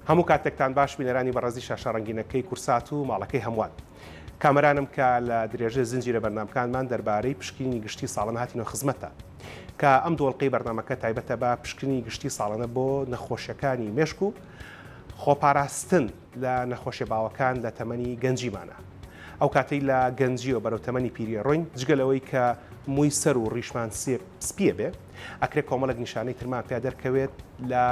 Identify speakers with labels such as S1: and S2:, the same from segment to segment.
S1: هەموو کاتێکتان باش بینەرانی بەڕێزی شاشە ڕەنگینەکەی کورسات و ماڵەکەی هەمووان. کامەرانم کە لە درێژە زنجیرە بەرنمەکانمان دەربارەی پشکنینی گشتی ساڵن هاتینە خزمەتە. کە ئەم دۆڵقەی بەرنمەکە تایبەتە بە پشکنی گشتی ساڵانە بۆ نەخۆشیەکانی مێشک و خۆپاراستن لە نەخۆشیە باوەکان لە تەمەنی گەنجیمانا. ئەو کاتەی لە گەنجیەوە بەرەو تەمەنی پیری ئەڕۆین، جگە لەوەی کە مووی سەر و ڕیشمان سپی سپیە بێ، ئەکرێ کۆمەڵێک نیشانەی ترمان پیا دەرکەوێت لە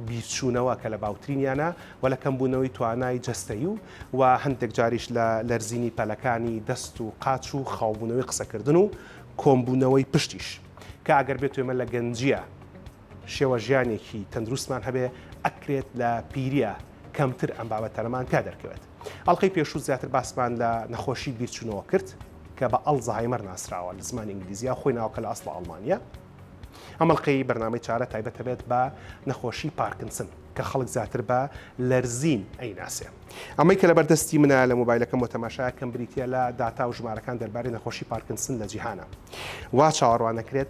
S1: بیرچوونەوە کە لە باوترینیانە و لە کەمبوونەوەی توانای جەستەیی و و هەندێک جاریش لە لەرزینی پەلەکانی دەست و قاچ و خاوبوونەوەی قسەکردن و کۆنبوونەوەی پشتیش کە ئەگەر بێت و ئێمە لە گەنجیە شێوە ژیانێکی تەندروستمان هەبێ ئەکرێت لە پیریە کەمتر ئەم بابەتەنەمان تیا دەرکەوێت ئەڵلقەی پێشوو زیاتر باسمان لە نەخۆشی بیرچوونەوە کرد کە بە ئەڵ زەهایمەر ناسراوە لە زمانی ئینگلیزیە خۆی ناوکە لە ئەسڵە ئەڵمانیە ئەمەڵلقەی بەرنامەی چارە تایبەتە بێت بە نەخۆشی پارکنسن کە خەڵک زیاتر بە لەرزین ئەی ناسێ ئەمەی کە لە بەردەستی منە لە مۆبایلەکەم و تەماشا کەم بریتە لە داتا و ژمارەکان دەربارەی نەخۆشی پارکنسن لە جیهانە وا چاوەڕوانەکرێت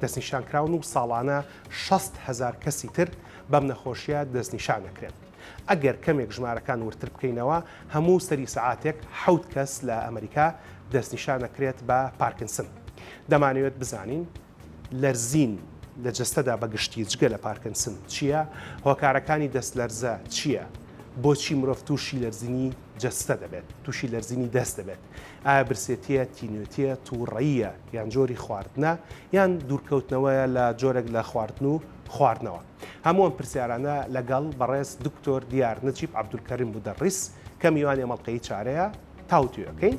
S1: دەستنیشانکراون و ساڵانە شەست هەزار کەسی تر بەم نەخۆشییە دەستنیشان دەکرێن. ئەگەر کەمێک ژمارەکان وردتر بکەینەوە، هەموو سەری سەعاتێک حەوت کەس لە ئەمریکا دەستنیشان دەکرێت بە پارکنسن. دەمانەوێت بزانین لەرزین لە جەستەدا بە گشتی جگە لە پارکنسن چییە؟ هۆکارەکانی دەستلەرزە چییە؟ بۆچی مرۆڤ تووشی لەرزینی جەستە دەبێت، تووشی لەرزینی دەست دەبێت؟ ئایا برسێتییە، تینوێتییە، تووڕەییە، یان جۆری خواردنە، یان دوورکەوتنەوەیە لە جۆرێک لە خواردن و خواردنەوە؟ هەموو ئەم پرسیارانە لەگەڵ بەڕێز دکتۆر دیار نجیب عەبدولکەریم مودەڕیس کە میوانی ئەم ئەڵقەی چارەیە تاوتوێ ئەکەین.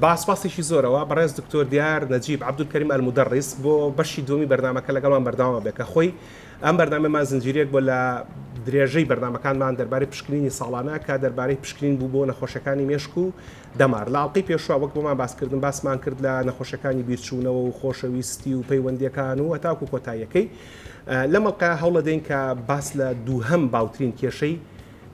S1: با سپاسێکی زۆرەوە بەڕێز دکتۆر دیار نەجیب عەبدولکەریم ئەلمودەڕیس بۆ بەشی دووەمی بەرنامەکە لەگەڵمان بەردەوام بێت کە خۆی ئەم بەرنامەمان زنجیرەیەک بۆ لە درێژەی بەرنمەکانمان دەربارەی پشکنینی ساڵانە کە دەربارەی پشکنین بوو بۆ نەخۆشەکانی مێشک و دەمار لە ئاڵلقەی پێشوە وەک بۆمان باسکردن باسمان کرد لە نەخۆشەکانی بیرچوونەوە و خۆشەویستی و پەیوەندەکان و هەتاکو کۆتاییەکەی لەمەڵقە هەوڵەدەین کە باس لە دووهەم باوترین کێشەی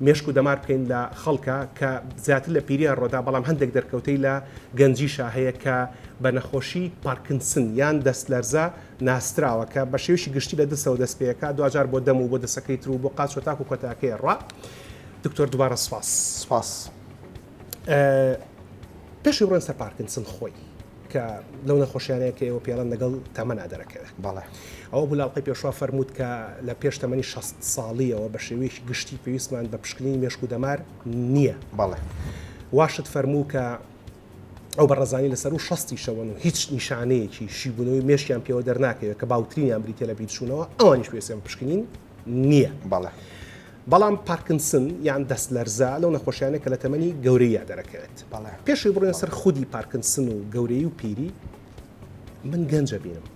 S1: مێشک و دەمار بکەین لە خەڵکە کە زیاتر لە پیریان ڕۆدا بەڵام هەندێک دەرکەوتەی لە گەنجیشا هەیە کە بە نەخۆشی پارکنسن یان دەست لەرزە ناسراوە کە بە شێوشی گشتی لە دەستەوە دەست پێەکە دواجار بۆ دەم و بۆ دەسەکەی تر و بۆ قاچ و تاک و کۆتاکەی ڕا دکتۆر دوبارە سپاس سپاس. پێشی بڕێن سەر پارکینسن خۆی کە لەو نەخۆشیانەیە کە ئێوە پێڵەن لەگەڵ تەمەنا دەرەکەوێت بەڵێ ئەوە
S2: بولاڵقی
S1: پێشوا فەرمووت کە لە پێش تەمەنی 16 ساڵیەوە بە شێوەیەکی گشتی پێویستمان بە پشکنینی مێشک و دەمار نییە بەڵێ
S2: واشت
S1: فەرموو کە ئەو بەڕزانانی لەسەر و شستی شەوەن و هیچ نیشانەیەکی شیبوونەوەی مێشیان پێوە دەرناکەوێت کە باوترینیان بریتە لە بیرچوونەوە ئەوانیش پێسیان پشکنین نییە. بەڵێ.
S2: بەڵام
S1: پارکنسن یان دەستلەرزە لەو نەخۆشیانە کە لە تەمەنی گەورەییا دەرەکەوێت. بەڵێ. پێشەوەی بڕۆین
S2: سەر خودی
S1: پارکنسن و گەورەیی و پیری، من گەنج ئەبینم.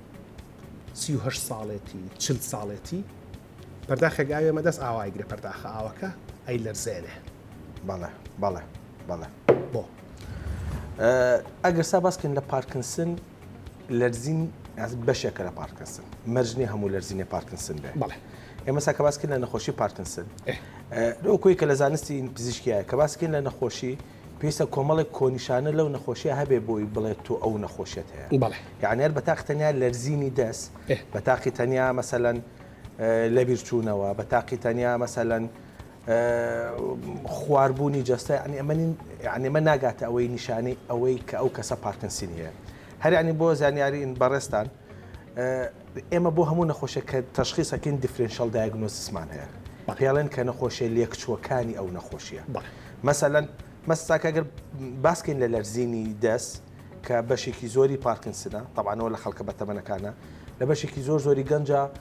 S1: سی و هەشت ساڵێتی، چل ساڵێتی، پەرداخێک ئاوی ئەمە دەست ئاوا ئەیگرێ پەرداخە ئاوەکە ئەیلەرزێنێ. بەڵێ، بەڵێ،
S2: بەڵێ. بۆ؟ ئەگەر سا باس کەین لە پارکنسن، لەرزین بەشێکە لە پارکسن مەرج نیە هەموو لەرزینی پارکنسن بێ بڵێ ئێمە ساکە
S1: باسکرد
S2: لە نەخۆشی پارکنسن لەو کۆی کە لە زانستی پزیشکیە کە باسکرد لە نەخۆشی پێویستە کۆمەڵێک کۆنیشانە لەو نەخۆشیە هەبێ بۆی بڵێت تۆ ئەو نەخۆشیت هەیە یانەر بە تاق
S1: تەنیا
S2: لەرزینی دەست بە تاقی تەنیا مەسەەن لە بیرچوونەوە بە تاقی تەنیا مەسەەن خوار بوونی جەستە یانی ئەمە نین یانی ئەمە ناگاتە ئەوەی نیشانەی ئەوەی کە ئەو کەسە پارکینسنی هەیە هەر یانی بۆ زانیاریین بەڕێزتان ئێمە بۆ هەموو نەخۆشێک کە تەشخیسەکەین دیفرنشەڵ دایگنۆسیسمان هەیە پێڵێن کە نەخۆشیە لێکچووەکانی ئەو نەخۆشیە مەسەلەن مەساکە گەر باسکەین لە لەرزینی دەست کە بەشێکی زۆری پارکنسنە تەوانەوە لە خەڵکە بەتەمەنەکانە لە بەشێکی زۆر زۆری گەنجە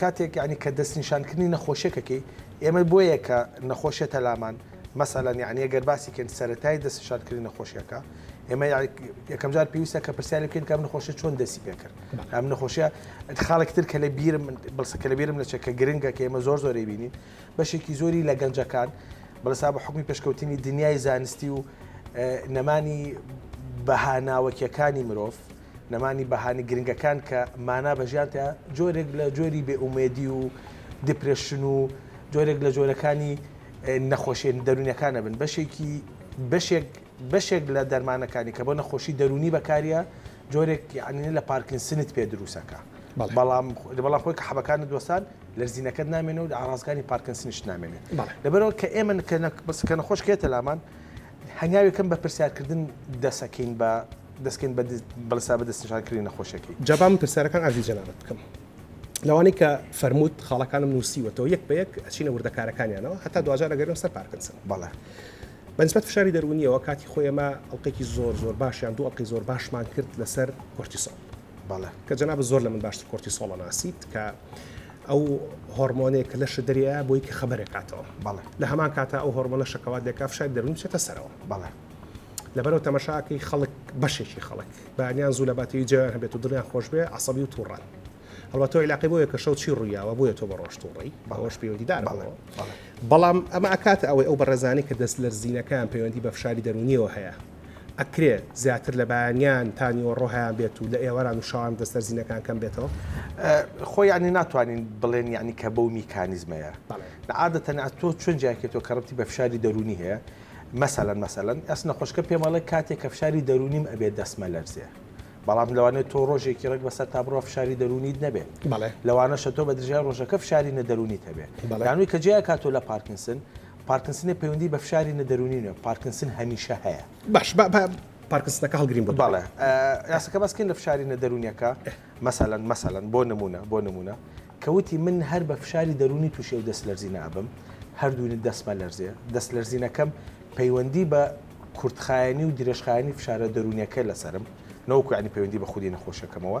S2: کاتێک یەعنی کە دەستنیشانکردنی نەخۆشێک ئەکەی ئێمە بۆیە کە نەخۆشێتە لامان مەسەلەن یەعنی گەر باسی کەین سەرەتای دەستنیشانکردنی نەخۆشیەکە ئێمە یەکەم جار پێویستە کە پرسیاری بکەین کە ئەم نەخۆشە چۆن دەستی پێ کرد ئەم نەخۆشیە خاڵێکی تر کە لە بیرم بڵسە کە لە بیرم نەچێت کە گرنگە کە ئێمە زۆر زۆری بینین بەشێکی زۆری لە گەنجەکان بەڵسا بە حکومی پێشکەوتنی دنیای زانستی و نەمانی بەها ناوەکیەکانی مرۆڤ نەمانی بەهانی گرنگەکان کە مانا بە ژیان تیا جۆرێک لە جۆری بێ ئومێدی و دیپرێشن و جۆرێک لە جۆرەکانی نەخۆشێن دەرونەکانە بن بەشێکی بەشێک بەشێک لە دەرمانەکانی کە بۆ نەخۆشی دەرونی بەکاریە جۆرێک یعنی لە پارکین سنت پێ دروستەکە بەڵام بەڵام خۆی کە حەبەکان دۆستان لەرزینەکەت نامێنەوە ئارازگاری پارکن سنیشت نامێنێت لەبەرەوە کە ئێمە کە بەسکە نەخۆش کێتە لامان هەنگاوی کەم بە پرسیار کردن دەسەکەین بە دەسکەین بە بەڵسا بە دەستنشان کردنی نەخۆشەکەی. جا با من پرسیارەکان
S1: عەرزی جەنابت بکەم لەوانەی کە فەرمووت خاڵەکانم نووسیوەتەوە یەک بە یەک ئەچینە وردەکارەکانیانەوە هەتا دواجار ئەگەرێم سەر پارکنسن. بەڵێ.
S2: بە نسبەت
S1: فشاری دەروونییەوە کاتی خۆی ئێمە ئەڵقێکی زۆر زۆر باشیان دوو ئەڵقەی زۆر باشمان کرد لەسەر کۆرتیسۆڵ. بەڵێ کە جەنابت زۆر لە من باشتر کۆرتیسۆڵ ئەناسیت کە ئەو هۆرمۆنێک کە لەشە دەریا بۆی کە خەبەرێک کاتەوە بەڵێ لە هەمان کاتە ئەو هۆرمۆنە شەکەوات دەکا فشاری دەروونی چێتە سەرەوە بەڵێ لەبەرەوە تەمەشاکەی خەڵک بەشێکی خەڵک بەیان زوو لە باتەوی جویان هەبێت و دڵیان خۆش بێ عسەبی و تووڕان هەڵاتەوە علاقی بۆیە کە شەو چی ڕوویاوە بۆیە تۆ بە ڕۆژ تووڕی باوەش پەیوەندیدار بەڵام ئەمە ئەکاتە ئەوەی ئەو بەڕێزانانی کە دەست لەرزینەکان پەیوەندی بە فشاری دەرونیەوە هەیە ئەکرێ زیاتر لە بەیانیان تا نیوەڕۆ هەیان بێت و لە ئێواران و شەوان دەستەر زینەکان کەم بێتەوە؟ خۆ یانی
S2: ناتوانین بڵێن یانی کە بەو میکانیزمەیە نە عادەتەن ئە تۆ چۆن جیاکەیتەوە کە ڕەبتی بە فشاری دەروونی هەیە مەسەلەن مەسەلەن ئەس نەخۆشکە پێم ئەڵێ کاتێک کە فشاری دەروونیم ئەبێ دەسمە لەرزێ بەڵام لەوانێت تۆ ڕۆژێکی ڕێک بەسەر تا بڕۆ فشاری دەروونیت نەبێت بەڵێ لەوانەشە تۆ بە درژای ڕۆژەکە فشاری نەدەروونی هەبێت بەڵانوی کە جیا کاتۆ لە پارکنسن پارکنسنە پەیوەندی بە فشاری نە دەروونی نیە پارکنسن هەمیشە هەیە. باش با با
S1: پارکنسنەکە هەڵگرین بۆ بەڵێ یاسەکە
S2: باسکەین لە فشاری نە دەروونیەکە مەسەلەن مەسەلەن بۆ نمونە بۆ نمونە کە وتی من هەر بە فشاری دەروونی تووشی و دەست لەرزی نابم هەردوونی دەستمە لەرزێ دەست لەرزینەکەم پەیوەندی بە کورتخایەنی و درێژخایەنی فشارە دەروونیەکە لەسرم نەوەکو عنی پەیوەندی بە خودی نەخۆشەکەمەوە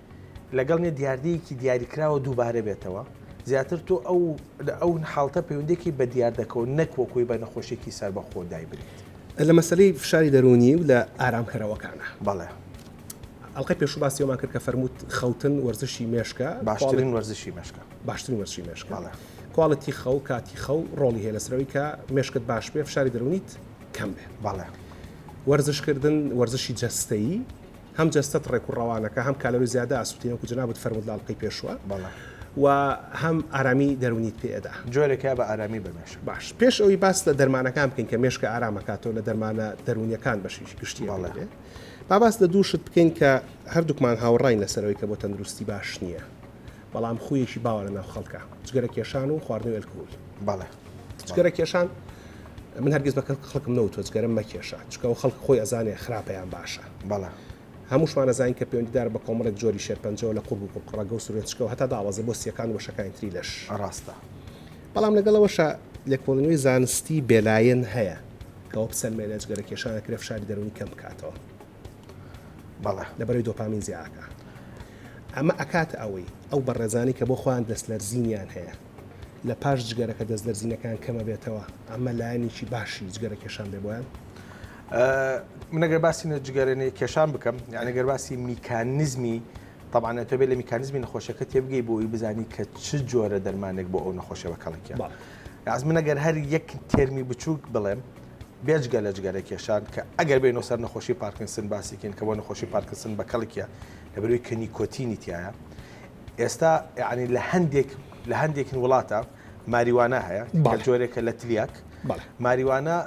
S2: لەگەڵ نیە دیاردەیەکی دیاریکراوە دووبارە بێتەوە زیاتر تۆ ئەو ئەو حاڵتە پەیوەندێکی بە دیاردەکەەوە نەک وەکوی بە نەخۆشێکی سەر بە خۆدای بریت لە مەسلەی
S1: فشاری دەرونی و لە ئارامکەرەوەکانە بەڵێ
S2: ئەڵلقەی
S1: پێشو باسیەوەمان کرد کە فەرمووت خەوتن وەرزشی مێشکە باشترین وەرزشی
S2: مێشکە باشترین وەرزشی مێشکە کوالڵەتی
S1: خەو کاتی خەو ڕۆڵی هەیە لەسەرەوەی کە مێشکت باش بێ فشاری دەرونیت کەم بێ بەڵێ
S2: وەرزشکردن
S1: وەرزشی جەستەیی هەم جەستەت ڕێک و ڕەوانەکە هەم کالۆری زیادە ئاسووتێنی وەکو جەنابت فەرموود لە ئەڵقەی پێشوە و هەم ئارامی دەروونیت پێ ئەدا. جۆرێکە بە ئارامی
S2: بە مێشک. باش پێش ئەوەی باس
S1: لە دەرمانەکان بکەین کە مێشکە ئارام ئەکاتەوە لە دەرمانە دەروونیەکان بەشی گشتی ئەمەی دێ با باس لە دوو شت بکەین کە هەردووکمان هاوڕاین لەسەر ئەوەی کە بۆ تەندروستی باش نیە بەڵام خوویەکی باوە لە ناو خەڵکا جگەرە کێشان و خواردنەوەی ئەلکهول. جگەرە کێشان من هەرگیز بە خەڵکم نەوتۆ جگەرە مەکێشە چکە و خەڵک خۆی ئەزانێ خراپەیان باشە بەڵە هەمووشمانە زانین کە پەیوەندیدار بە کۆمەڵێک جۆری شێرپەنجەوە لە قوب و قڕقڕەگە و سورێتچکە و هەتا داوازە بۆ سیەکان وەشەکانی تری لەش ڕاستە بەڵام لەگەڵەوەشە لێکۆڵنەوەی زانستی بێلایەن هەیە کەەوە بسەلمێنە جگەرە کێشانە کرێ فشاری دەرونی کەم بکاتەوە
S2: بەڵە لەبەرەی دۆپامین
S1: زیاکە ئەمە ئەکات ئەوەی ئەو بەڕێزانی کە بۆ خۆیان دەستلەرزینیان هەیە لە پاش جگەرەکە دەست لەرزینەکەیان کەمە بێتەوە ئەمە لایەنێکی باشی جگەرە کێشان بێ بۆیان
S2: منەگەر باسی نە جگەرێنەی کێشان بکەم یانەگەر باسی میکانزمی طبعاە تۆ بێ لە میکانزمی نەخۆشەکە تێبگەی بۆی بزانی کە چ جۆرە دەرمانێک بۆ ئەو نەخۆشە بە کەڵکیە ئاز منەگەر هەر یەک تێرمی بچووک بڵێم بێجگە لە جگەرە کێشان کە ئەگەر بێنەوە سەر نەخۆشی پارکنسن باسیکەین کە بۆ نەخۆشی پارکسن بە کەڵکیە لە بەروی کە نیکۆتینی تایە ئێستا یعنی لە هەندێک لە هەندێکن وڵاتە ماریوانە هەیە بە جۆرێکە لە تلیاک ماریوانە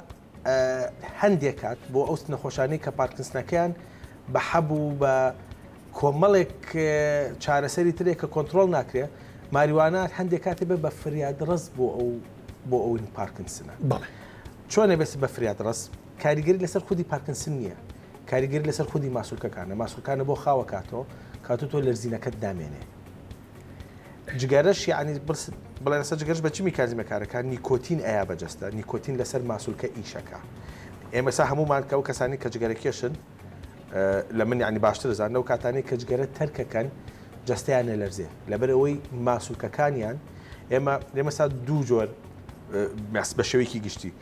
S2: هەندێک کات بۆ ئەو نەخۆشانی کە پارکنسنەکەیان بە حەبوو بە کۆمەڵێک چارەسەری ترێک کە کۆنتترۆل ناکرێ ماریوانە هەندێک کاتی بێ بە فریاد ڕست بۆ ئەو بۆ ئەوین پارکنسنە چۆنە بێت بە فریاد ڕست کاریگەری لەسەر خودی پارکنسن نییە کاریگەری لەسەر خودی ماسولکەکانە ماسولکانە بۆ خاوە کاتۆ کاتو تۆ لەرزینەکەت دامێنێ جگەرەش یعنی بڵێ لەسەر جگەرش بە چ میکانزمە کارەکە نیکۆتین ئەیا بەجەستە نیکۆتین لەسەر ماسولکە ئیشەکە ئێمەسا هەمومان کەەوە کەسانی کە جگەرە کێشن لە من ینی باشتر زان لەو کاتانی کە جگەرە تەرکەکەن جستیان نەلەرزێ لەبەر ئەوەی ماسولکەکانیان ئێمە لێمەسا دوو جۆر بە شێوەیەکی گشتی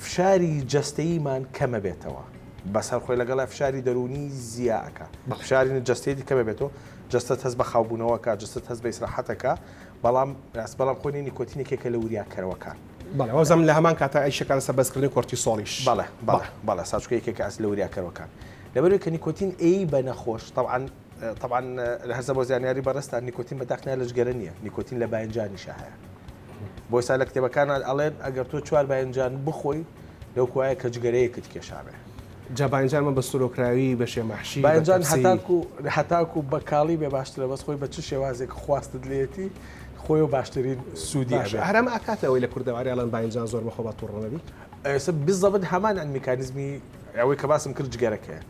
S2: فشاری جەستەییمان کەمەبێتەوە بەسەر خۆی لەگەڵ فشاری دەروونی زیا ئەکا فشاری جەستەیەتی کەمە بێتەوە جەستە هەز بە خاوبوونەوەکە جەست هەز بە ئیسراحەتەکە بەڵام راست بەڵام خۆنی نیکۆتینێکێکە لە وریاکەرەوەکان بەڵێوەزم لە
S1: هەمان کاتە ئەیشەکان سە بەسکردنی کۆرتی سۆڵیش بەڵێ بەڵێ بەڵە
S2: ساچکەیەکێکە ئەس لە وریاکەرەوەکان لەبەروی کە نیکۆتین ئەی بە نەخۆش تاوان تەبعەن هەرزە بۆ زانیاری بەڕێزتان نیکۆتین بە داخنیا لە جگەرە نییە نیکۆتین لە باینجانیشە هەیە بۆ سا لە کتێبەکانان ئەڵێن ئەگەر تۆ چوار باینجان بخۆی لەو کوایە کە جگەرەیەکت کێشابێ جابانجان من
S1: بە سرۆکراوی بە شێمەحشی باینجان هەتاکو
S2: هەتاکو بە کاڵی بێ باشترە بەس خۆی بە چ شێوازێک خواستت لێتی خۆی و باشترین سوودی هەرم ئاکاتەوەی
S1: لە کوردەواریڵەن باینجان زۆر بەخۆ بە توڕەنەبی ئێستا بزەبت
S2: هەمان میکانزمی ئەوەی کە باسم کرد جگەرەکەیە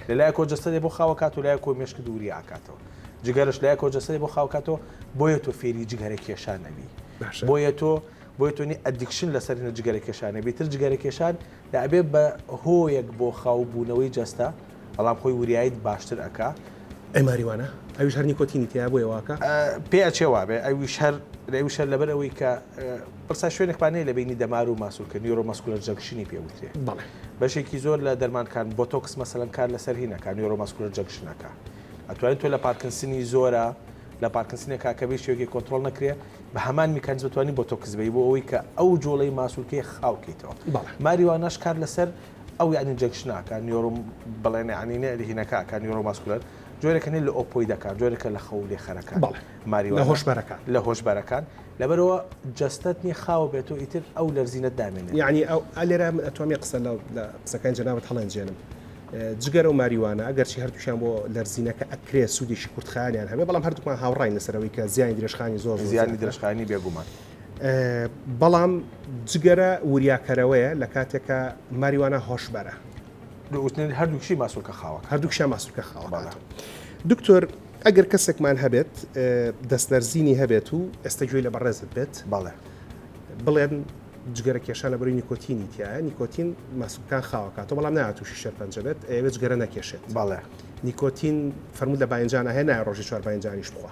S2: لە لایەکەوە جەستەدێ بۆ خاو ئەکات و لایەکەوە مێشک دووری ئاکاتەوە جگەرەش لایەکەوە جەستەدێ بۆ خاو کاتەوە بۆیە تۆ فێری جگەرە کێشان ئەبی باشە بۆیە تۆ بۆیە تۆ نی ئەدیکشن لەسەر هێنە جگەرە کێشان ئەبی تر جگەرە کێشان لە ئەبێ بە هۆیەک بۆ خاو بوونەوەی جەستە بەڵام خۆی وریایت باشتر ئەکا. ئەی ماریوانە؟
S1: ئەویش هەر نیکۆتینی تێیە بۆیە واکا؟ پێ ئەچێ وابێ
S2: ئەویش هەر ئەویش هەر لەبەر ئەوەی کە. پرسا شوێنێک پان هەیە لە بەینی دەمار و ماسول کە نیورۆ ماسکولەر جەنکشنی پێ وترێ بەڵێ. بەشێکی زۆر لە دەرمان کان بۆتۆکس مەسەلەن کار لەسەر هین ئەکا نیورۆ ماسکولەر جەنکشن ئەکا ئەتوانی تۆ لە پارکنسنی زۆرە لە پارکنسنێ کا کە بێ شێوەکی کۆنترۆڵ نەکرێ بە هەمان میکانیزم ئەتوانی بۆتۆکس بەی بۆ ئەوەی کە ئەو جۆڵەی ماسولکەی خاو کەیتەوە بەڵێ. ماریواناش کار لەسەر ئەو یانی جەنکشنە ئەکا نیورۆ بڵێنێ یانی نێ هینەکە ئەکا نیورۆ ماسکولەر جۆرێکە نێ لە ئۆپۆیدەکان جۆرێکە لە خەو لێ خەرەکان بەڵێ. لە
S1: هۆشبەرەکان لە
S2: هۆشبەرەکان لەبەرەوە جەستەت نیە خاوە بێت و ئیتر ئەو لەرزینەت دامێنێت یعنی ئەو ئەلێرا
S1: من ئەتوانێ قسە لە قسەکان جەنابەت هەڵێنجێنم جگەرە و ماریوانە ئەگەرچی هەردووشیان بۆ لەرزینەکە ئەکرێ سوودێکی کورتخانیان هەبێ بەڵام هەردووکمان هاوڕای لەسەرەوەی کە زیانی درێژخانی زۆر زیانی درێژخانی
S2: بێگومان
S1: بەڵام جگەرە وریاکەرەوەیە لە کاتێکە ماریوانە هۆشبەرە دووتنێت
S2: هەردووکشی ماسولکە خاوەک هەردووکشە ماسولکە
S1: خاوەڵات دکتۆر ئەگەر کەسێکمان هەبێت دەستلەرزینی هەبێت و ئێستا گوێی لە بەڕێزت بێت باڵێ بڵێن جگەرە کێشانە بەروی نیکۆتینی تیا نیکۆتین ماسوکان خاوەکاتەوە بەڵام ناتوشی شەرپەنجە بێت ئەوێت گەرە نەکێشێت باڵێ نیکۆتین فەرموو لە باینجانە هەیە نایە ڕۆژی چوار باینجانیش بخوا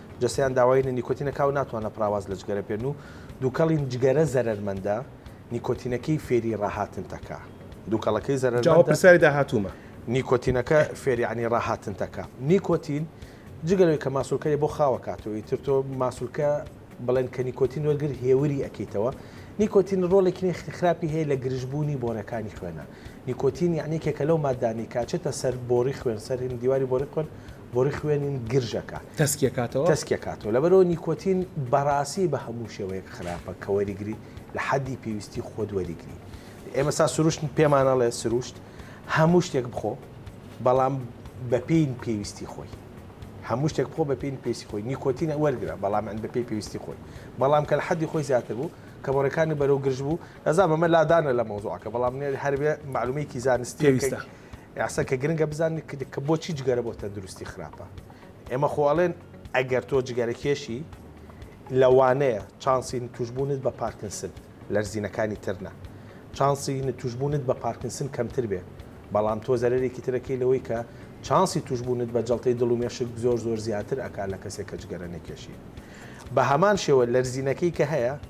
S2: جەستەیان داوای لە نیکۆتینە کا و ناتوانە پڕاواز لە جگەرە بکەن و دوکەڵین جگەرە زەرەرمەندە نیکۆتینەکەی فێری ڕاهاتن تەکا دوکەڵەکەی زەرەرمەندە. جاوە پرسیاری داهاتوومە. نیکۆتینەکە فێری یانی ڕاهاتن تەکا
S1: نیکۆتین
S2: جگە لەوەی کە ماسولکەێ بۆ خاوە کاتەوە ئیتر تۆ ماسولکە بڵێن کە نیکۆتین وەرگر هێوری ئەکەیتەوە نیکۆتین ڕۆڵێکی نێخ خراپی هەیە لە گرژبوونی بۆرەکانی خوێنە نیکۆتین یانێکێکە لەو مادانەی کاچێتە سەر بۆڕی خوێن سەر هندیواری بۆڕی خوێن بۆری خوێنین گرژەکە تەسکیەکاتەوە تەسکیەکاتەوە لەبەرەوە نیکۆتین بەڕاستی بە هەموو شێوەیەک خراپە کە وەریگری لە حەدی پێویستی خۆت وەریگری ئێمە سا سروشت پێمانەڵێ سروشت هەموو شتێک بخۆ بەڵام بەپین پێویستی خۆی هەموو شتێک بخۆ بە پێین پێسی خۆی نیکۆتینە وەرگرە بەڵام ئەند بە پێی پێویستی خۆی بەڵام کە لە حەدی خۆی زیاتر بوو کە بەڕێکانی بەرەو گرژ بوو نەزان بەمە لادانە لە مەوزوعەکە بەڵام نێ هەربێ معلومەیەکی زانستی ویستە
S1: یاسا کە گرنگە
S2: بزانن کە بۆچی جگەرە بۆ تەندروستی خراپە ئێمە خۆ ئەڵێن ئەگەر تۆ جگەرە کێشی لەوانەیە چانسی توشبوونت بە پارکنسن لەرزینەکانی ترنا چانسی توشبوونت بە پارکنسن کەمتر بێ بەڵام تۆ زەرێکی ترەکەی لەوەی کە چانسی توشبوونت بە جڵتەی دڵ و مێشک زۆر زۆر زیاتر ئەکا لە کەسێک کە جگەرە نەکێشی بە هەمان شێوە لەرزینەکەی کە هەیە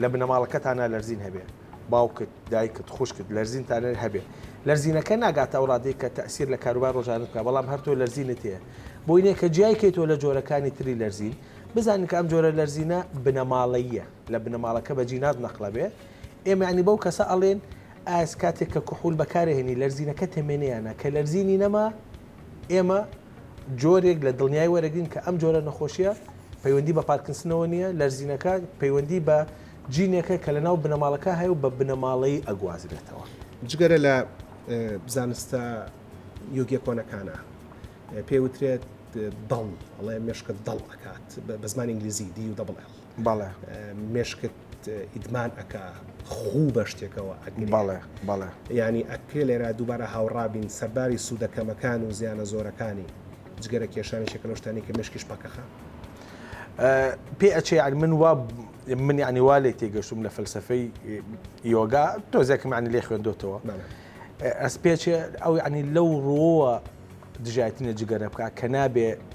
S2: لە بنەماڵەکەتانا لەرزین هەبێ باوکت دایکت خوشکت لەرزینتانە هەبێ لەرزینەکە ناگاتە ئەو ڕادەی کە تەسیر لە کاروبار ڕۆژانت بکە بەڵام هەرتۆ لەرزینت هەیە بۆی نیە کە جیای کەی تۆ لە جۆرەکانی تری لەرزین بزانین کە ئەم جۆرە لەرزینە بنەماڵەیە لە بنەماڵەکە بە جینات نەقلە بێ ئێمەعنی بەو کەسە ئەڵێن ئاس کاتێک کە کحول بەکارهێنی لەرزینەکە تەمێنیانە کە لەرزینی نەما ئێمە جۆرێک لە دڵنیایی وەرەگرین کە ئەم جۆرە نەخۆشییە پەیوەندی بە پارکینسنەوە نییە، لەرزینەکە پەیوەندی بە جینێکە کە لەناو بنەماڵەکە هەیە و بە بنەماڵەیی ئەگوازرێتەوە. جگەرە لە
S1: زانستە یۆگییە کۆنەکانا پێی وترێت دڵ، ئەڵێ مێشکت دڵ ئەکات، بە زمانی ئینگلیزی، DULL،
S2: مێشکت.
S1: ئیدمان ئەکا خوو بە شتێکەوە ئەگرێ بەڵێ بەڵێ
S2: ینی ئەکرێ
S1: لێرا دووبارە هاوڕابین سەرباری سوودە کەمەکان و زیانە زۆرەکانی جگەرە کێشانی شەکە لە شتانی کە مشکیش پەکەخە
S2: پێ ئەچێ یعنی من وا من ینی وا لێ تێگەشتم لە فەلسفەی یۆگا تۆزێکمانی لێ خوێندۆتەوە ئەس پێچێ ئەو ینی لەو ڕۆوە دژایتنە جگەرە بکە کە نابێ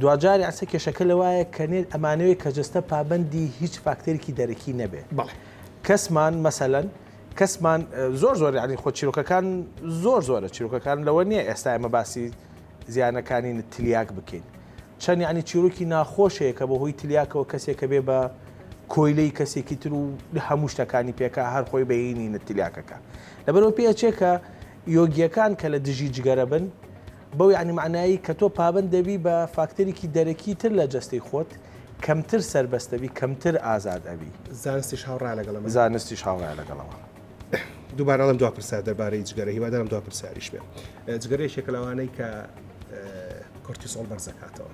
S2: دواجار ئەسە کێشەکە لەوایە کە نێت ئەمانەوێت کە جەستە پابەندی هیچ فاکتەرێکی دەرەکی نەبێت بەڵێ کەسمان مەسەلەن کەسمان زۆر زۆر یعنی خۆ چیرۆکەکان زۆر زۆرە چیرۆکەکان لەوە نییە ئێستا ئەمە باسی زیانەکانی تلیاک بکەین چەند یعنی چیرۆکی ناخۆشەیە کە بەهۆی تلیاکەوە کەسێکە بێ بە کۆیلەی کەسێکی تر و هەموو شتەکانی پێکا هەر خۆی بەینی نتلیاکەکە لەبەرەوە پێچێکە یۆگیەکان کە لە دژی جگەرە بن بەو یەعنی مەعنایەی کە تۆ پابەند دەبی بە فاکتەرێکی دەرەکی تر لە جەستەی خۆت، کەمتر سەربەست ئەبی، کەمتر ئازاد ئەبی. زانستیش هاوڕایە لەگەڵ
S1: ئەمە؟ زانستیش هاوڕایە لەگەڵ
S2: ئەمە. دووبارە
S1: ئەڵێم دوا پرسیار دەربارەی جگەرە، هیوادارم دوا پرسیاریش بێ. جگەرە یەکێکە لەوانەی کە کۆرتیسۆڵ بەرز دەکاتەوە.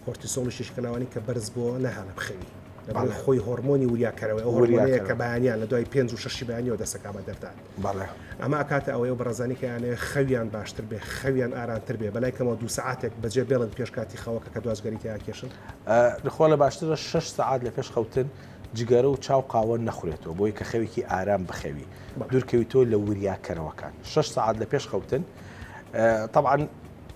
S1: کۆرتیسۆڵیش یەکێکە لەوانەی کە بەرز بووەوە ناهێڵێ بخەوی. لەبەرئەوەی خۆی هۆڕمۆنی وریاکەرەوەیە، ئەو هۆڕمۆنەیە کە بەیانیان لە دوای پێنج و شەشی بەیانیەوە دەست دەکا بە دەردان. بەڵێ ئەمە ئەکاتە ئەوەی ئەو بەڕێزانەی کە ئەیانەوێ خەویان باشتر بێ خەویان ئارانتر بێ بەلای کەمەوە دوو سەعاتێک بەجێ بێڵن پێش کاتی خەوەکە کە دوا جگەری تیا کێشن خۆ لە
S2: باشترە شش سەعات لە پێش خەوتن جگەرە و چاو قاوە نەخورێتەوە بۆی کە خەوێکی ئارام بخەوی دوورکەوی تۆ لە وریاکەرەوەکان شش سەعات لە پێش خەوتن طبعاً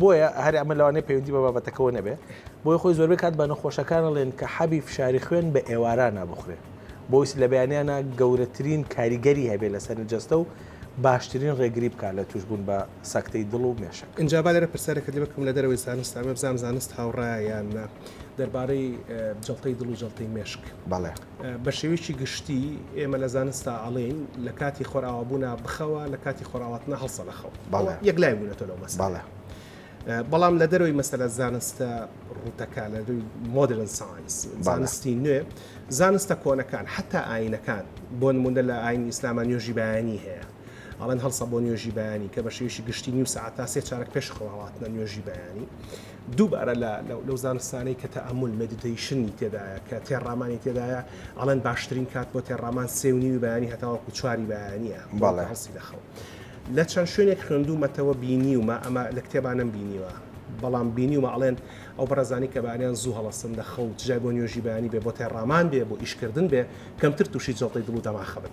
S2: بۆیە هەر ئەمە لەوانەیە پەیوەندی بە بابەتەکەوە نەبێ بۆی خۆی زۆربەی کات بە نەخۆشەکان ئەڵێن کە حەبی فشاری خوێن بە ئێوارانە بخورێ بۆیس لە بەیانیانە گەورەترین کاریگەری هەبێ لەسەر جەستە و باشترین ڕێگری بکا لە توشبوون بە سەکتەی دڵ و مێشک. ئینجا با لێرە پرسیارێکت لێ
S1: بکەم لە دەرەوەی زانست ئەمە بزانم زانست هاوڕایە یان نا دەربارەی جەڵتەی دڵ و جەڵتەی مێشک؟ بەڵێ. بە
S2: شێوەیەکی
S1: گشتی ئێمە لە زانستا ئەڵێین لە کاتی خۆرئاوابوونا بخەوە لە کاتی خۆراواتنە هەڵسە لە خەو یەک لای بوونەتە لەو مەساڵە
S2: بەڵام
S1: لە دەرەوەی مەسەلە زانستە ڕوتەکە لە دووی مۆدرن ساینس زانستی نوێ زانستە کۆنەکان حتا ئاینەکان بۆ نمونە لە ئاین ئیسلامان نوێژی بەیانی هەیە ئەڵەن هەڵسە بۆ نوێژی بەیانی کە بە شێوشی گشتی نیو ساعت تا سێ چارەک پێش خۆڵاتنە نوێژی بەیانی دووبارە لە لەو زانستانەی کە تەئەمول، Meditation، ی تێدایە کە تێڕامانی تێدایە، ئەڵێن باشترین کات بۆ تێڕامان سێ و نیوی بەیانی هەتاوەکو چواری بەیانییە بۆ هەڵسین لە خەو. لە چەند شوێنێک خوێندوومەتەوە بینیومە ئەمە لە کتێبا نەمبینیوە بەڵام بینیومە ئەڵێن ئەو بەڕێزانەی کە بەیانیان زوو هەڵەسن لە خەو چ جای بۆ نوێژی بەیانی بێ بۆ تێڕامان بێ بۆ ئیشکردن بێ کەمتر تووشی جەڵتەی دڵ و دەماخ ئەبن.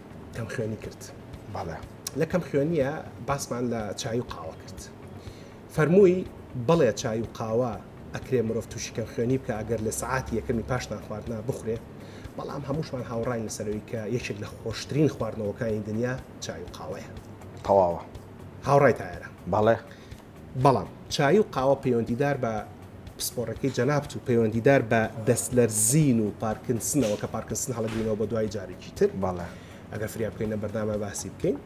S1: کەم خوێنی کرد بەڵێ
S2: لە کەم خوێنیە
S1: باسمان لە چای و قاوە کرد فەرمووی بەڵێ چای و قاوە ئەکرێ مرۆڤ تووشی کەم خوێنی بکە ئەگەر لە سعاتی یەکەمی پاشتان خواردنا بخورێ بەڵام هەمووشمان هاوڕین لەسەرەوەی کە یەکێک لە خۆشترین خواردنەوەکانی دنیا چای و قاوەیە تەواوە
S2: هاوڕای
S1: تایرە بەڵێ
S2: بەڵام
S1: چایی و قاوە پەیوەندیدار بە پسپۆڕیەکەی جەنابت و پەیوەندیدار بە دەستلەرزین و پارکنسنەوە کە پارکنسن هەڵەگرینەوە بە دوای جارێکی تر باڵە ئەگەر
S2: فریا بکەین لە
S1: بەردامە باسی بکەین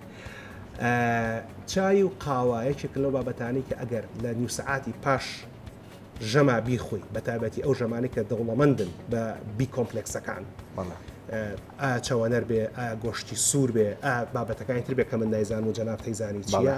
S1: چای و قاوە یەکێک لەو بابەتانی کە ئەگەر لە نیو سعاتی پاش ژەما بیخۆی بە تایبەتی ئەو ژەمانی کە دەوڵەمەندن بە بی کۆمپلکسەکان ئا چاوانەر بێ ئا گۆشتی سوور بێ ئا بابەتەکانی تر بێ کە من نایزان و جەناب تەیزانی چیە؟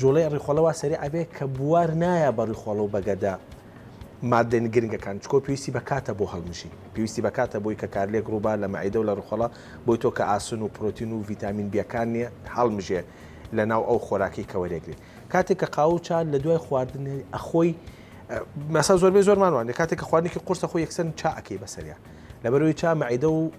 S2: جوڵەی ڕیخۆڵە وا سەریع ئەبێ کە بوار نایە بە ڕیخۆڵە و بەگەردە ماددە گرنگەکان، چکۆ پێویستی بە کاتە بۆ هەڵمژین، پێویستی بە کاتە بۆی کە کارلێک ڕووبار لە مەعیدە و لە ڕیخۆڵە بۆی تۆ کە ئاسن و پرۆتین و ڤیتامین بیەکان نیە هەڵمژێ لە ناو ئەو خۆراکەی کە وەرێگرێ کاتێک کە قاوە و چا لە دوای خواردن ئەخۆی مەسا زۆربەی زۆرمان وانە کاتێک کە خواردنێکی قورسە خۆی یەکسەر چا ئەکەی بەسەریا لەبەرەوەی چا مەعیدە و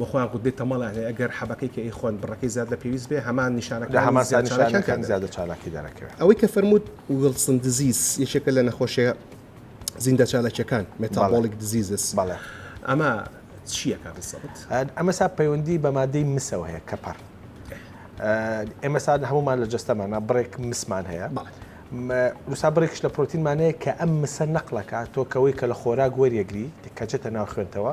S1: بەخۆیان قوتبێ تەمەڵیان هەیە گەر حەبەکەی کە ئەیخۆن بڕەکەی زیاد لە پێویست بێ هەمان نیشانەکانی زیاد چالاکیان تیان
S2: دەبێت. زیادە چالاکی دەرەکەوێ. ئەوەی کە فەرمووت
S1: ویڵسن دزیز یەکێکە لە نەخۆشیە زیندە چالاکیەکان Metabolic Diseases بەڵێ. ئەمە چیە کە بزەبت؟ ئەمە سا پەیوەندی
S2: بە مادەی مسەوە هەیە کەپەڕ ئێمە سا هەمومان لە جەستەمانە بڕێک مسمان هەیە وسا بڕێکش لە پرۆتینمانەیە کە ئەم مسە نەقلەکە تۆکەوەی کە لە خۆراک وەریەگری کەچێتە ناو خوێنتەوە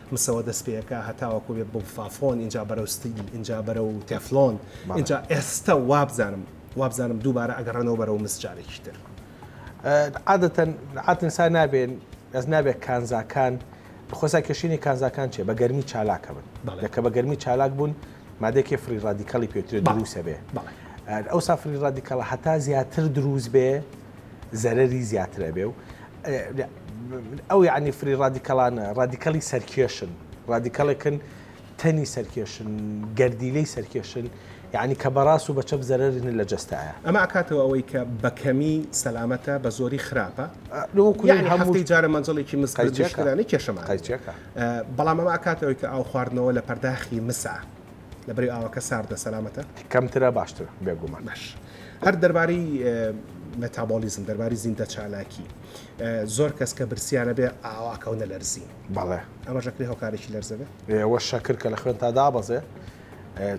S1: مسەوە دەست پێکا هەتاوەکو بێ بڵفافۆن ئینجا بەرەو ستیل ئینجا بەرەو تێفلۆن ئینجا ئێستا وابزانم وابزانم دووبارە ئەگەڕێنەوە بەرەو مس جارێکی تر. عادەتەن
S2: عادەتەن سا نابێن ئەس نابێت کانزاکان خۆسا کێشینی کانزاکان چێ بە گەرمی چالاکە بن لەکە بە گەرمی چالاک بوون مادێکی فری ڕادیکالی پێترێت دروسە بێ ئەو سافری ڕادیکاڵە هەتا زیاتر دروست بێ زەرەری زیاتر ئەبێ و ئەو یعنی فری ڕادیکەڵانە ڕادیکەڵی سەرکێشن ڕادیکەڵێکن تەنی سەرکێشن گەردیلەی سەرکێشن یعنی کە بەڕاست و بە چەپ زەرری لە جستایە ئەمە ئاکاتەوە ئەوەی کە
S1: بەکەمی سەلامەتە بە زۆری خراپە هەمووی جارە مەنجڵێکی مسکردانی کێشەمان بەڵام ئەمە ئاکاتەوەی کە ئاو خواردنەوە لە پەرداخی مسا لەبەرەی ئاوەکە ساردە سەلامەتە کەمترە باشتر
S2: بێگومان باش هەر
S1: دەربارەی مەتابۆلیزم دەرباری زیندە چالاکی زۆر کەس کە برسیانە بێ ئاواکەونە لەرزی بەڵێ ئەمە
S2: ژەکری هۆکارێکی
S1: لەرزەبێ ئێوە شەکر کە لە
S2: خوێن تا دابەزێ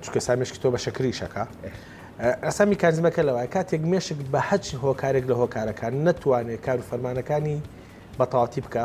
S2: چکە سامێشکی تۆ بە شەکری شەکە ئەسا میکانزمەکە لەوە کاتێک مێشک بە هەچ هۆکارێک لە هۆکارەکان نەتوانێت کار و فەرمانەکانی بەتەواتی بکە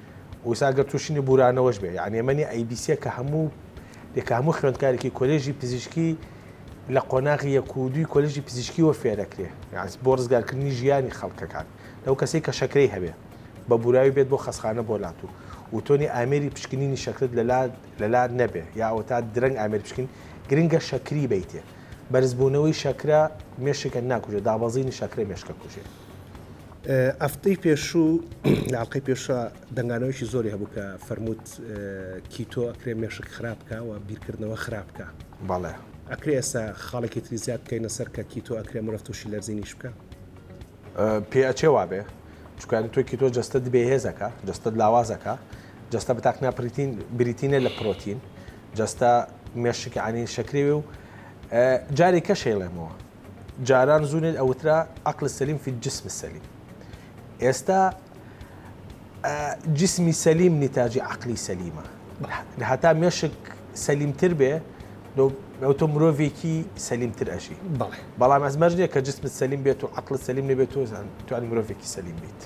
S2: وسا گەر توشینی بورانەوەش بێ یانی ئەمە نیە ئەیبیسیە کە هەموو لێ کە هەموو خوێندکارێکی کۆلێژی پزیشکی لە قۆناغی یەک و دووی کۆلژی پزیشکیەوە فێرەکرێ یاز بۆ ڕزگارکردنی ژیانی خەڵکەکان لەو کەسەی کە شەکرەی هەبێ بە بوراوی بێت بۆ خەسخانە بۆ لات و وتۆنی ئامێری پشکنینی شەکرت لەلا لەلا نەبێ یا ئەوە تا درەنگ ئامێر پشکین گرنگە شەکری بیتێ بەرزبوونەوەی شەکرە مێشکە ناکوژێ دابەزینی شەکرە مێشکە کوژێ
S1: ئەفتەی پێشوو لە ئەڵقەی پێشا دەنگانەوەیکی زۆری هەبوو کە فەرمووت کیتۆ ئەکرێ مێشک خراپ بکە و بیرکردنەوە خراپ بکە بەڵێ
S2: ئەکرێ ئێستا
S1: خاڵێکی تری زیاد بکەینە سەر کە کیتۆ ئەکرێ مرۆڤ تووشی لەرزینیش بکە
S2: پێ ئەچێ وابێ چکانی تۆ کیتۆ جەستە دبێ هێزەکە جەستە لاوازەکە جەستە بەتاقنا پرتین بریتینە لە پرۆتین جەستە مێشکانی شەکرێوێ و جارێکە شەیڵێمەوە جاران زوو نێت ئەوترا عقل سەلیم فی الجسم السلیم ئێستا جسمی سەلیم نیتاجی عقلی سەلیمە هەتا مێشک سەلیمتر بێ ئەوتۆ مرۆڤێکی سەلیمتر ئەژی بەڵام ئەس مەرجێک کە جسمت سەلیم بێت و عقل سەلیم نەبێت تۆزان توان مرۆڤێکی سەلیم بیت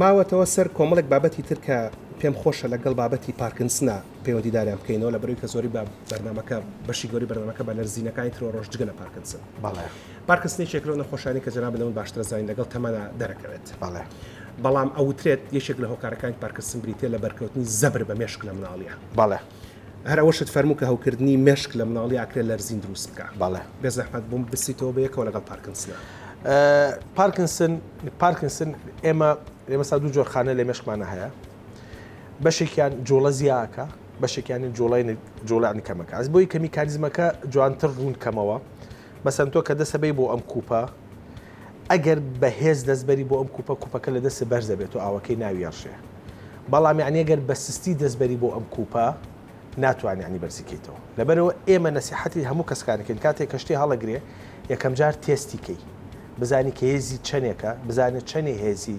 S1: ماوەتەوە سەر کۆمەڵێک بابەتی ترکە پێم خۆشە لەگەڵ بابەتی پارکنسنا پەیوەندیداریان بکەینەوە لەبەرەوەی کە زۆری بە بەرنامەکە بەشی گەوری بەرنامەکە بە لەرزینەکانی ترۆ ڕۆژ جگە لە پارکنسن بەڵێ پارکنسنی چێک لەو نەخۆشانی کە جەناب لەمن باشترە زانین لەگەڵ تەمەنا دەرەکەوێت بەڵێ بەڵام ئەوترێت یەکێک لە هۆکارەکانی پارکسن بریتە لە بەرکەوتنی زەبر بە مێشک لە مناڵیە بەڵێ هەر ئەوەشت فەرموو کە هەوکردنی مێشک لە مناڵی ئاکرێ لەرزین دروست بکە بەڵێ بێزەحمەت بووم بسیتەوە بەیەکەوە لەگەڵ پارکنسنا پارکنسن
S2: پارکنسن ئێمە ئێمە سا دوو جۆرخانە لە مێشکمانە هەیە بەشێکیان جۆڵە زیاکە بەشێکیانی جۆڵای جۆڵانی کەمەکە ئەس بۆی کە میکانزمەکە جوانتر ڕوون کەمەوە بەسەن تۆ کە دەسەبەی بۆ ئەم کوپە ئەگەر بەهێز دەستبەری بۆ ئەم کوپە کوپەکە لە دەست بەرزە بێت و ئاوەکەی ناویێڕشێ بەڵام یعنی ئەگەر بە سستی دەستبەری بۆ ئەم کوپە ناتوانانی عنی بەرزیکەیتەوە لەبەرەوە ئێمە نەسیحەتی هەموو کەسکانەکەین کاتێک کەشتی هەڵەگرێ یەکەم جار تێستیکەی بزانی کە هێزی چەندێکە بزانێت چەندی هێزی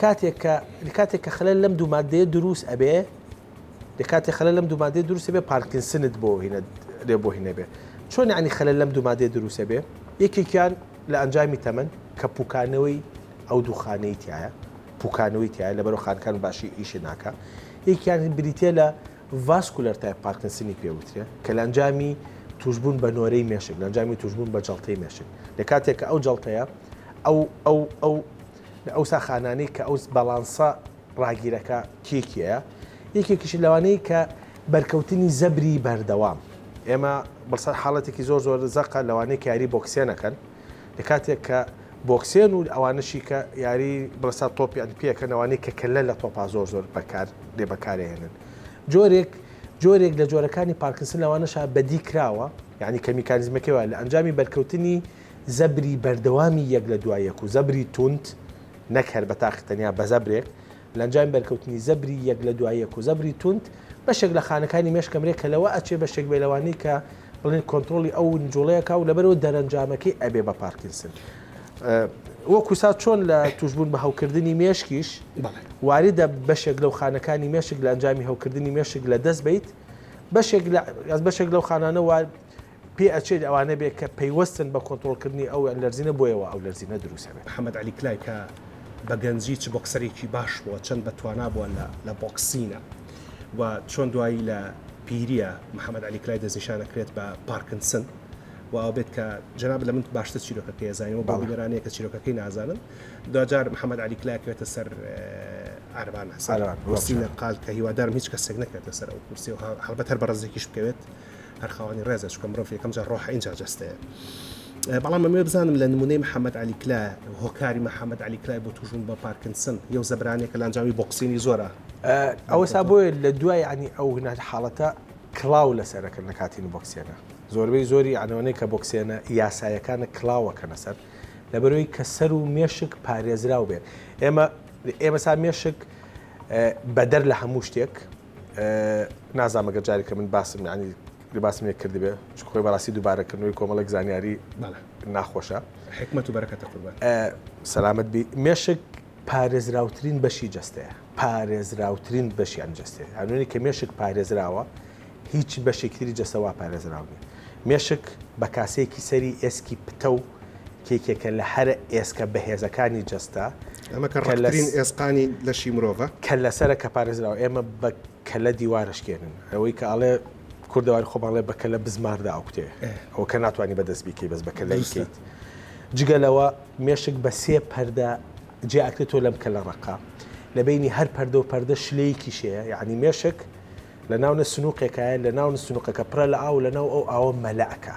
S2: کاتێک کە کاتێک کە خەلەل لەم دوو مادەیە دروست ئەبێ دەکاتێ خەلەل لەم دوو مادەیە دروست بێ پارکینسنت بۆ هینە لێ بۆ هینە بێ چۆن عنی خەلەل لەم دوو مادەیە دروست بێ یەکێکیان لە ئەنجامی تەمەن کە پوکانەوەی ئەو دووخانەی تایە پوکانەوەی تایە لە بەرەو خانەکان باشی ئیشی ناکە یەکیان بریتە لە ڤاسکولەر تای پارکینسنی پێوترێ کە لە ئەنجامی توشببوون بە نۆرەی مێشک لەنجامی توشببوون بە جڵتەی مێشک لە کاتێک کە ئەو جڵتەیە ئەو ئەو ئەو لە ئەوسا خانانەی کە ئەوس بەڵانسە ڕاگیرەکە کێ کێیە یەکێکیش لەوانەی کە بەرکەوتنی زەبری بەردەوام ئێمە بەسەر حاڵەتێکی زۆر زۆر زەقە لەوانەی کاری بۆکسێنەکەن لە کاتێک کە بۆکسێن و ئەوانەشی کە یاری بڵسا تۆپیان پێکە نەوانەی کە کەلە لە تۆپا زۆر زۆر بەکار لێ بەکارێنن جۆرێک جۆرێک لە جۆرەکانی پارکسن لەوانەشە بەدی کراوە یعنی کە میکانزمەکەی وایە لە ئەنجامی بەرکەوتنی زەبری بەردەوامی یەک لە دوای یەک و زەبری توند، نەک هەر بە تاقی تەنیا بە زەبرێک، لە ئەنجامی بەرکەوتنی زەبری یەک لە دوای یەک و زەبری توند، بەشێک لە خانەکانی مێشک ئەمرێ کە لەوە ئەچێ بەشێک بێ لەوانەی کە بڵێن کۆنترۆڵی ئەو نجوڵەی ئەکا و لەبەرئەوە دەرەنجامەکەی ئەبێ بە پارکینسن. وەکوو سا چۆن لە تووشبوون بە هەوکردنی مێشکیش واریدە بەشێک لەو خانەکانی مێشک لە ئەنجامی هەوکردنی مێشک لە دەست بەیت بەشێک لە بەشێک لەو خانانە پێ ئەچێت ئەوانە بێت کە پەیوەستن بە کۆنترۆڵکردنی ئەو لەرزینە بۆیە وا ئەو لەرزینە دروست ئەبێت. محەمەد عەلی کلای کە
S1: بە گەنجی چ بۆکسەرێکی باش بووە چەند بە توانا بووە لە لە بۆکسینە و چۆن دوایی لە پیریە محەمەد عەلی کلای دەستنیشان ئەکرێت بە پارکنسن و ئەوە بێت کە جەنابت لە من باشتر چیرۆکەکەی ئەزانی و بۆ بینەران هەیە کە چیرۆکەکەی نازانن دواجار محەمەد عەلی کلای ئەکەوێتە سەر عارەبان حسێن حسینە قال کە هیوادارم هیچ کەسێک نەکەوێتە سەر ئەو کورسیە و هەڵبەت هەر بەڕەزێکیش بکەوێت هەر خاوەنی ڕێزە چکە مرۆڤ یەکەم جار ڕۆحە اینجا جستەیە بەڵام مەمێ بزانم لە نمونەی محەممەد علی کلا هۆکاری محەممەد علی کلای بۆ توژون بە پارکنسن یو زەبرانێک کە لەنجامی بۆکسینی زۆرە ئەوە سا
S2: بۆیە لە دوای ینی ئەو هناج حاڵەتە کلااو لە سەرەکە لە کاتین بۆکسێنە زۆربەی زۆری ئەنەوەی کە بۆکسێنە یاسایەکانە کلااوەکەنە سەر لەبەرەوەی کە سەر و مێشک پارێزراو بێت ئێمە ئێمە سا مێشک بەدەر لە هەموو شتێک نازانم ئەگەر جارێکە من باسم ینی لباسم لێ کردبێ چ خۆی بەڕاستی دووبارەکردنەوەی کۆمەڵک زانیاری ناخۆشە حکمت و
S1: بەرەکەتە قوربان سەلامت بی
S2: مێشک پارێزراوترین بەشی جستەیە پارێزراوترین بەشیان جستێ هەنوێنی کە مێشک پارێزراوە هیچ بەشێکتری جەسەوا پارێزراونی مێشک بە کاسەیەکی سەری ئێسکی پتە و کێکێکە لە هەرە ئێسکە بەهێزەکانی جەستە. ئەمە کە ڕەقترین
S1: ئێسقانی لەشی مرۆڤە. کەللەسەرە کە
S2: پارێزراوە. ئێمە بە کەللە دیوار ئەشکێنن. ئەوەی کە ئەڵێ، کوردەواری خۆمان ئەڵێ بە کەللە بزماردا ئەکوتێ. ئەوە کە ناتوانی بە دەست بیکەی بەس بە کەللە ئیکەیت. جگە لەوە مێشک بە سێ پەردە جیا ئەکرێ تۆ لەم کەللە ڕەقە لە بەینی هەر پەردە و پەردە شلەیەکیش هەیە یانی مێشک لە ناونە سنووقێکایە لە ناونە سنووقەکە پرە لە ئاو لە ناو ئەو ئاوە مەلەکە.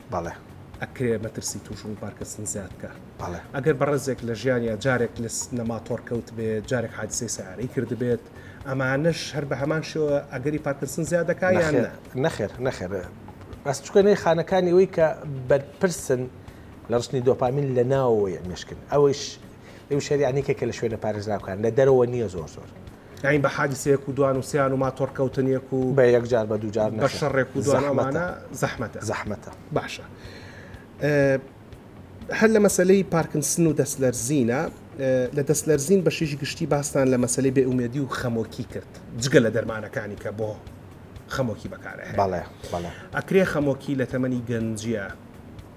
S1: بەڵێ.
S2: ئەکرێ مەترسی
S1: تووش بوون پارکسن زیاد بکا. بەڵێ. ئەگەر
S2: بەڕێزێک لە
S1: ژیانیا جارێک لە لە ماتۆڕ کەوتبێت، جارێک حادسەی سەیارەی کردبێت، ئەمانەش هەر بە هەمان شێوە ئەگەری پارکسن زیاد دەکا یان نا؟ نەخێر نەخێر نەخێر
S2: بەس چونکە نەی خانەکانی ئەوەی کە بەرپرسن لە ڕشتنی دۆپامین لە ناوەوەی ئەمێشکن ئەوەیش ئەویش هەر یانێکێکە لە شوێنە پارێزراوکان لە دەرەوە نییە زۆر زۆر. یانی بە
S1: حادسەیەک و دوان و سێان و ماتۆڕ کەوتنێک و بە یەکجار بە دووجار
S2: بە شەڕێک و دوان
S1: ئەمانە زەحمەتە زەحمەتە باشە هەر لە مەسلەی پارکنسن و دەستلەرزینە لە دەستلەرزین بەشیش گشتی باستان لە مەسلەی بێ ئومێدی و خەمۆکی کرد جگە لە دەرمانەکانی کە بۆ خەمۆکی بەکارە
S2: ئەکرێ
S1: خەمۆکی لە تەمەنی گەنجە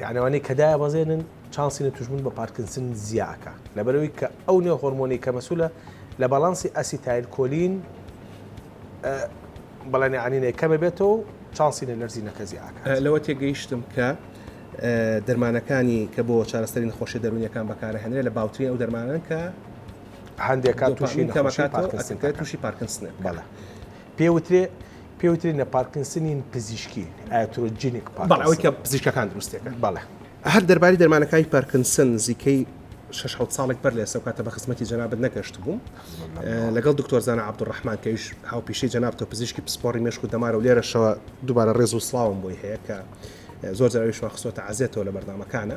S2: یانی ئەوانەی کە دایەبەزێنن چانسی نەتوشبوون بە پارکینسن زیا ئەکا لەبەرئەوەی کە ئەو نێو هۆرمۆنەی کە مەسولە لە باڵانسی ئەسیتایل کۆلین ە بەڵێن یانینەی کەمە بێتەوە و چانسی نەلەرزینەکە زیا ئەکات. لەوە تێگەیشتم
S1: کە دەرمانەکانی کە بۆ چارەسەری نەخۆشیە دەروونیەکان بەکارئەهێنرێ لە باوترین ئەو دەرمانەن کە هەندێکات
S2: توشی دوپامین کەم
S1: ئەکاتەوە ئەتووشی پارکینسن ئەکا. بەڵێ.
S2: پێ وترێ پێ وترێ نە پارکنسنین پزیشکی ئاترۆجینیک بەڵێ ئەوەی کە
S1: پزیشکەکان دروستێکن بەڵێ هەر
S2: دەرباری
S1: دەرمانەکانی پارکنسن نزیکەی شەش حەوت ساڵێک بەر لە ئێستا و کاتە بە خزمەتی جەنابت نەگەشت بووم لەگەڵ دکتۆر زانا عەبدوڕەحمان کە ئیش هاوپیشەی جەناب تۆ پزیشکی پسپۆڕی مێشک و دەمارە و لێرەشەوە دووبارە ڕێز و سڵاوم بۆی هەیە کە زۆر جاراوی شوان خستۆتە عەزێتەوە لە بەرنامەکانە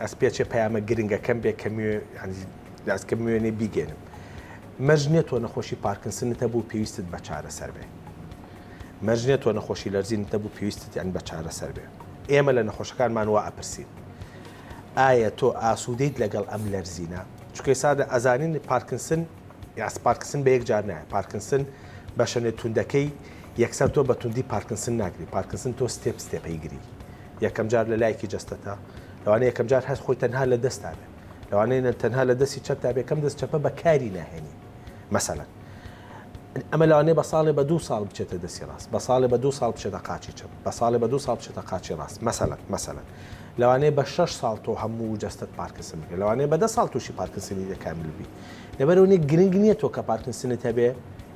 S2: ئەز پێچێ پەیامە گرنگەکەم بێ کە موێ یانی لاز کە موێنێ بیگێنم. مەرج نیە تۆ نەخۆشی پارکنسنت هەبوو و پێویستت بە چارەسەر بێ. مەرج نیە تۆ نەخۆشی لەرزینت هەبوو پێویستت یانی بە چارەسەر بێ. ئێمە لە نەخۆشەکانمان وا ئەپرسین ئایا تۆ ئاسوودەیت لەگەڵ ئەم لەرزینە؟ چونکە ئێستا دە ئەزانین پارکنسن یاس پارکنسن بە یەک جار نایە. پارکنسن بەشەنێ توندەکەی یەکسەر تۆ بە توندی پارکنسن ناگری. پارکنسن تۆ ستێپ ستێپەی گری. یەکەم جار لە لایەکی جەستەتا، لەوانەیە یەکەم جار هەست خۆی تەنها لە دەستتا بێ، لەوانەیە تەنها لە دەستی چەپتا بێ کەم دەست چەپە بەکاری ناهێنی مەسەلەن ئەمە لەوانەیە بە ساڵێ بە دوو ساڵ بچێتە دەستی ڕاست بە ساڵێ بە دوو ساڵ بچێتە قاچی چەپ بە ساڵێ بە دوو ساڵ بچێتە قاچی ڕاست مەسەلەن مەسەلەن لەوانەیە بە شەش ساڵ تۆ هەموو جەستەت پارکسن بگە لەوانەیە بە دە ساڵ تووشی پارکسنی دەکامل بی لەبەرەوەی گرنگ نییە تۆ کە پارکسنت هەبێ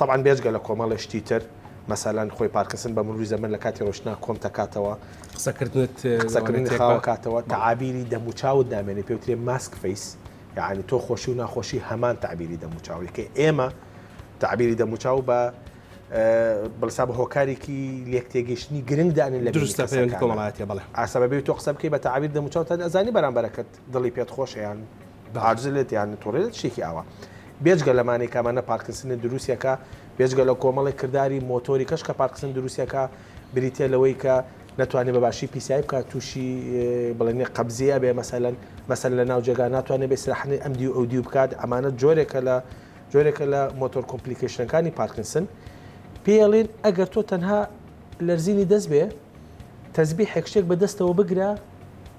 S2: تەبعەن بێجگە لە کۆمەڵێ شتی تر مەسەلەن خۆی پارکسن بە مروی زەمەن لە کاتی ڕۆشتنا کۆم تەکاتەوە قسەکردنت قسەکردنی خاوەکاتەوە تەعابیری دەموچاوت دامێنێ پێوترێ ماسک فەیس یعنی تۆ خۆشی و ناخۆشی هەمان تعبیری دەموچاوی کە ئێمە تعبیری دەموچاو بە بڵسا بە هۆکارێکی لێک تێگەشتنی گرنگ دانێن لە دروستە پێوەندی کۆمەڵایەتی
S1: بڵێ ئاسەبەبێت تۆ قسە بکەی بە
S2: تعبیر دەموچاو تا ئەزانی بەرامبەرەکەت دڵی پێت خۆشە یان عاجزە لێت یان نەتوەڕێت شتێکی ئاوا بێجگە لەمانەی کامانە پارکسنی دروستەکە بێجگە لە کۆمەڵی کردداری مۆتۆری کەش کە پارکسن دروستەکە بریتە لەوەی کە ناتوانێت بە باشی پیسایی بکات تووشی بڵێنێ قبزیە بێ مەسەلەن مەسەر لە ناو جێگا ناتوانێت بێسراحنی ئەم دیو ئەو دیو بکات ئەمانە جۆرێکە لە جۆرێکە لە مۆتۆر کۆمپلیکیشنەکانی پارکنسن پێڵێن ئەگەر تۆ تەنها لەرزینی دەست بێ تەزبی حێکشتێک بەدەستەوە بگرە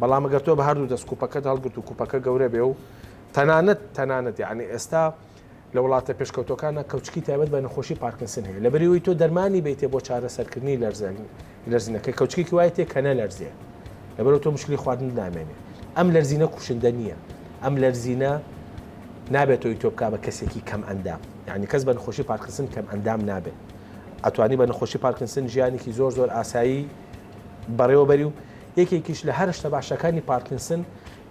S2: بەڵام ئەگەر تۆ بە هەردوو دەست کوپەکەت هەڵگرت و کوپەکە گەورە بێ و تەنانەت تەنانەت یعنی ئێستا لە وڵاتە پێشکەوتەکانە کەوچکی تایبەت بە نەخۆشی پارکینسن هەیە لەبەریەوەی تۆ دەرمانی بیتێ بۆ چارەسەرکردنی لەرزەن لەرزینەکە کەوچکێکی وایە تێ کە نەلەرزێ لەبەرەوە تۆ مشکلی خواردن نامێنێ ئەم لەرزینە کوشندە نییە ئەم لەرزینە نابێتەوەی تۆ بکە بە کەسێکی کەم ئەندام یعنی کەس بە نەخۆشی پارکینسن کەم ئەندام نابێت ئەتوانی بە نەخۆشی پارکینسن ژیانێکی زۆر زۆر ئاسایی بەڕێوەبەری و یەکێکیش لە هەرشتە باشەکانی پارکینسن،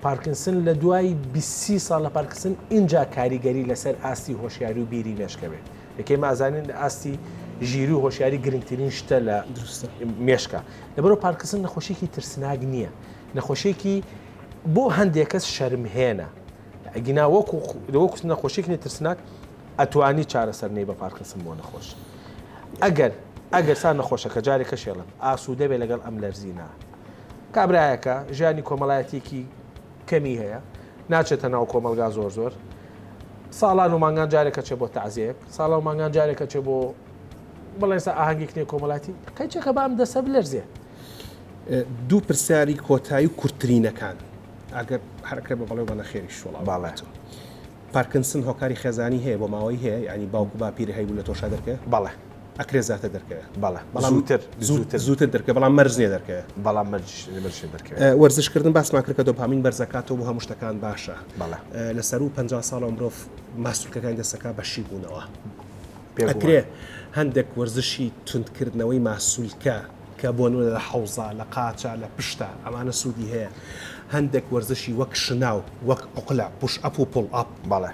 S2: پارکینسن لە دوای بیست سی ساڵ لە پارکینسن ئینجا کاریگەری لەسەر ئاستی هۆشیاری و بیری مێشکە بێت. کە ئێمە ئەزانین ئاستی ژیری و هۆشیاری گرنگترین شتە لە مێشکە. لەبەرئەوە پارکینسن نەخۆشیەکی ترسناک نیە. نەخۆشیەکی بۆ هەندێک کەس شەرمهێنە. ئەگینا وەکو نەخۆشیەکی ترسناک ئەتوانی چارەسەر نەی بە پارکنسن بۆ نەخۆش ئەگەر ئەگەر سا نەخۆشەکە جارێک کەشێڵم ئاسوودە بێ لەگەڵ ئەم لەرزینە کابراایەکە ژیانی کۆمەڵایەتێکی کەمی هەیە ناچێتە ناو کۆمەلگا زۆر زۆر ساڵان و مانگان جارێکە چێ بۆ تازێک ساڵە و مانگان جارێکە چێ بۆ بڵێسە ئاهنگێک نێ کۆمەڵاتی قەیچەکە بام دەسە بلەرزێ
S1: دوو پرسیاری کۆتایی و کورتترینەکان ئەگەر حرکە بە بەڵێ بە نەخێری شوڵا باڵێتەوە.
S2: پارکنسن
S1: هۆکاری خێزانی هەیە بۆ ماوەی هەیە یانی باوک و باپیرە هەیبوو لە تۆشا دەرکەوێ؟ بەڵێ ئەکرێ
S2: زاتر
S1: دەرکەوێ بەڵێ بەڵام
S2: زووتر زووتر زووتر دەرکەوێ بەڵام مەرج
S1: نیە دەرکەوێ بەڵام مەرج
S2: مەرج نیە دەرکەوێ.
S1: وەرزش کردن باسمان کرد کە دۆپامین بەرز ئەکاتەوە بۆ هەموو شتەکان باشە بەڵێ لە سەروو پەنجا ساڵەوە مرۆڤ ماستولکەکانی دەست ئەکا بە شی بوونەوە پێ ئەکرێ هەندێک وەرزشی توند کردنەوەی ماسولکە کە بۆ نمونە لە حەوزە، لە قاچە، لە پشتە، ئەمانە سوودی هەیە. هەندێک وەرزشی وەک شناو، وەک عوقلە، پوش ئەپ و پوڵ ئەپ. بەڵێ.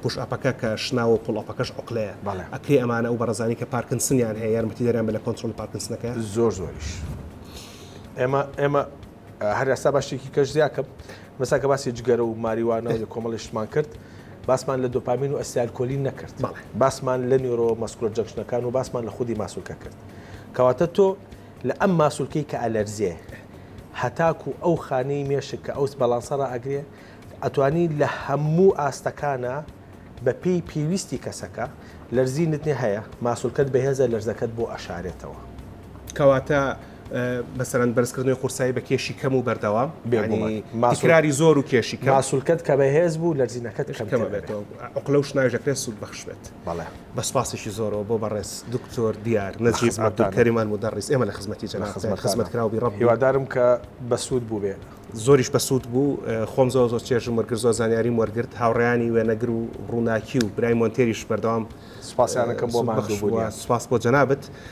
S1: پوش
S2: ئەپەکە
S1: کە شناوە و پوڵ ئەپەکەش عوقلەیە. بەڵێ. ئەکرێ ئەمانە ئەو بەڕێزانەی کە پارکنسنیان هەیە یارمەتیدەریان بێت لە کۆنترۆڵی پارکنسنەکەیان؟ زۆر زۆریش.
S2: ئێمە، ئێمە. هەر ئەستا باشێکی کەش زیاکەم مەسا کە باسی جگەرە و ماریوانە لە کۆمەڵیشتمان کرد باسمان لە دۆپامین و ئەسیالکۆلی نەکرد باسمان لە نیۆرۆ مەسکولە جەکشنەکان و باسمان لە خودی ماسولکە کرد کەواتە تۆ لە ئەم ماسولکەی کە ئەلەرزێ هەتاکو ئەو خانەی مێشک کە ئەوس بەڵانسەڕ ئەگرێ ئەتوانی لە هەموو ئاستەکانە بەپی پێویستی کەسەکە لەرزینت نێ هەیە ماسولکەت بەهێزە لەرزەکەت بۆ ئەشارێتەوە کەواتە
S1: مەسەرەن بەرزکردنەوەی قورسایی بە کێشی کەم و بەردەوام ماسراری زۆر و کێشی کاسولکەت کە بەهێز بوو
S2: لەرزینەکەت کەمەبێتەوە
S1: ئەقلە و شناژەکرێت سوود بەخشبێت بەڵێ بە سپاسیشی زۆرەوە بۆ بەڕێز دکتۆر دیار نەجیب عبدالکەریمان مدەڕیس ئێمە لە خزمەتی جەنا خزمەت خزمەت کراوی ڕەب هیوادارم کە
S2: بەسوود بوو بێت زۆریش بەسوود بوو
S1: خۆم زۆ زۆر چێژم وەرگر زۆر زانیاریم وەرگرت هاوڕیانی وێنەگر و ڕووناکی و برای مۆنتێریش بەردەوام سپاسیانەکەم بۆ
S2: ماخش بووە سپاس بۆ جەنابەت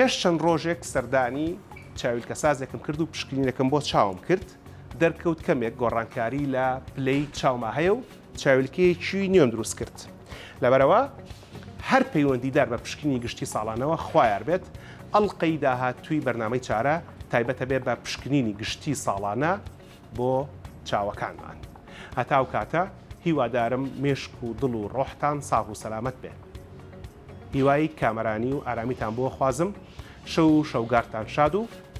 S1: پێش چەند ڕۆژێک سەردانی چاویلکەسازێکم کرد و پشکنینەکەم بۆ چاوم کرد دەرکەوت کەمێک گۆڕانکاری لە پلەی چاوما هەیە و چاویلکەیەکی نوێم دروست کرد لەبەرەوە هەر پەیوەندیدار بە پشکنینی گشتی ساڵانەوە خوایار بێت، ئەڵقەی داهاتووی بەرنامەی چارە تایبەت ئەبێت بە پشکنینی گشتی ساڵانە بۆ چاوەکانمان. هەتا ئەو کاتە هیوادارم مێشک و دڵ و ڕۆحتان ساغ و سەلامەت بێ. هیوای کامەرانی و ئارامیتان بۆ خوازم، شەو و شەوگارتان شاد و.